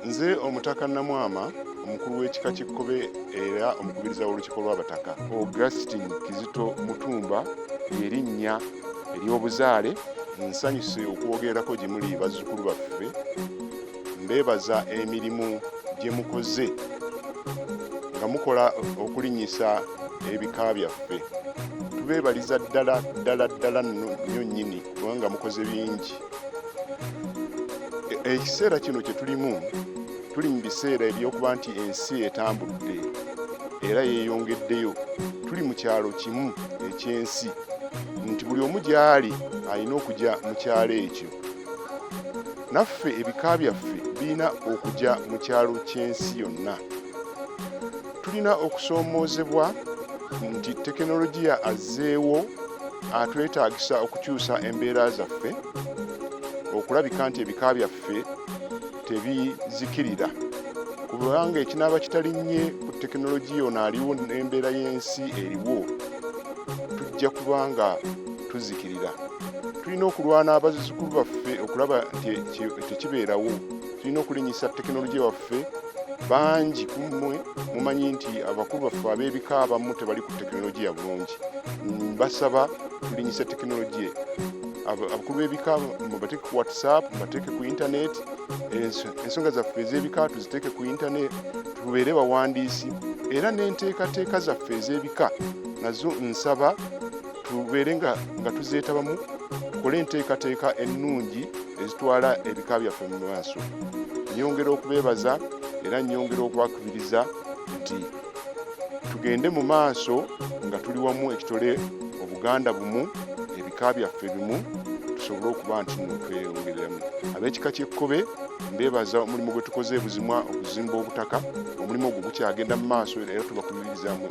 nze omutaka namwama omukulu w'ekika kikkobe era omukubiriza w'olukiiko lw'abataka augustin kizito mutumba erinnya ery'obuzaale nsanyuse okwogerako gye muli bazzukulu baffe mbeebaza emirimu gye mukoze nga mukola okulinyisa ebika byaffe tubeebaliza ddala ddala ddala nnyo nnyini kubanga mukoze bingi e, ekiseera kino kye tulimu tuli mu biseera ebyokuba nti ensi etambudde era yeeyongeddeyo tuli mu kyalo kimu ekyensi nti buli omu gy'ali alina okujya mu kyalo ekyo naffe ebika byaffe birina okujya mu kyalo ky'ensi yonna tulina okusoomoozebwa nti tekinologiya azzeewo atwetaagisa okukyusa embeera zaffe okulabika nti ebika byaffe tebizikirira kubanga ekinaaba kitalinnye ku tekinologiya ono aliwo n'embeera y'ensi eriwo tujja kuba nga tuzikirira tulina okulwana abazzukulu baffe okulaba nti tekibeerawo tulina okulinyisa tekinologiya waffe baffe bangi ku mmwe mumanyi nti abakulu baffe ab'ebika abamu tebali ku tekinologiya bulungi basaba tulinyisa tekinologiya abakulu b'ebika mubateeke ku whatsapp mubateeke ku intaneti ensonga zaffe ez'ebika tuziteeke ku intaneti tubeere bawandiisi era n'enteekateeka zaffe ez'ebika nazo nsaba tubeere nga tuzeetabamu tukole enteekateeka ennungi ezitwala ebika byaffe mu maaso nyongera okubeebaza era nyongera okwakubiriza nti tugende mu maaso nga tuli wamu ekitole obuganda bumu ebika byaffe bimu tusobole okuba nti tweyongereramu ab'ekika ky'ekkobe mbeebaza omulimu gwe tukoze ebuzimwa okuzimba obutaka omulimu ogwo gukyagenda mu maaso era tubakubirizamu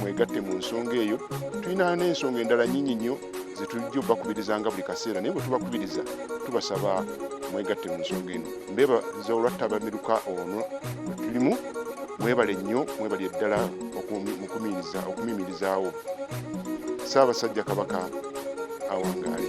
mwegatte mu nsonga eyo tulina n'ensonga endala nyingi nnyo zetujja obakubirizanga buli kaseera naye bwetubakubiriza tubasaba mwegatte mu nsonga eno mbebaza olwattabamiruka ono tulimu mwebale nnyo mwebali eddala okumimirizaawo saabasajja kabaka awangaale